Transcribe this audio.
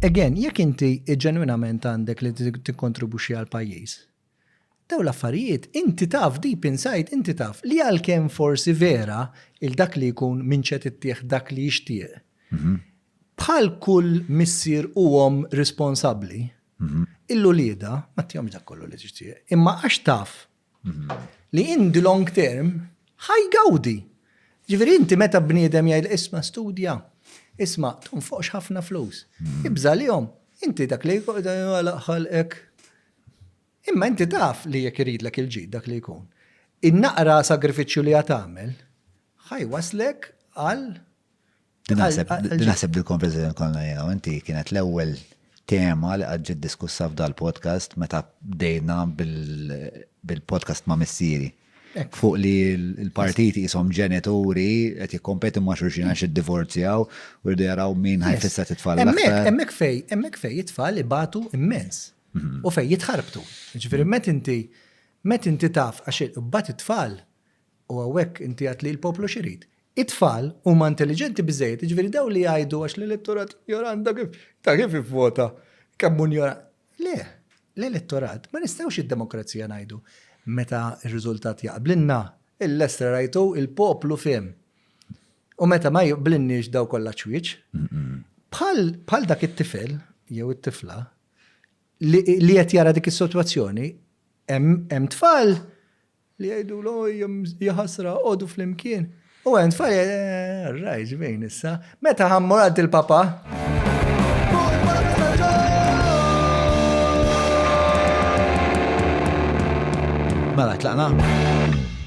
Again, jekk inti ġenwinament għandek li tikkontribwixxi għall-pajjiż, dawn l-affarijiet inti taf deep inside inti taf li għalkemm forsi vera il dak li jkun minn x'qed ittih dak li jixtieq, bħal kull missier u omm responsabbli, il-uliedha ma tihomx dak kollu li tixtieq. Imma għax taf li in the long term ħa jgawdi. Jiġifieri inti meta bniedem jgħidlek isma' studja, isma' tonfoqx ħafna flus, ibża' għalihom, inti dak li Alla ħalqek. Imma inti taf li jekk iridlek il-ġid dak li jkun, in-naqra sagrifiċċju li ħa tagħmel ħa jwasslek għal Din naħseb dil-konversazzjoni konna jena, inti kienet l-ewwel tema li għadġi diskussa f'dal-podcast meta bdejna bil-podcast ma' missieri. Fuq li l-partiti jisom ġenituri qed jikkompetu ma' xulxin għax id-divorzjaw u rridu jaraw min ħajfissa titfal. Hemmhekk fej, hemmhekk fej jitfall ibatu immens mhm. u fej jitħarbtu. Ġifieri met inti met inti taf għax imbagħad it-tfal U hawnhekk inti għedt li l-poplu x'irid? It-tfal huma intelliġenti biżżejjed, jiġifieri dawn li jgħidu għax l-elettorat injorant ta' kif ta' kif ivvota, kemm hu injorant. Le, l-elettorat ma nistgħux id-demokrazija ngħidu meta r-riżultat jaqblilna, il-lestra rajtu, il-poplu fehem. U meta ma jqblilniex daw kollha ċwieċ. Bħal bħal dak it-tifel jew it-tifla li li qed jara dik is-sitwazzjoni hemm hemm tfal Li jgħidulu jaħasra għodu flimkien. U għen tfal raj ġvejn issa. Meta ħammur għad il-papa? Mela tlaqna.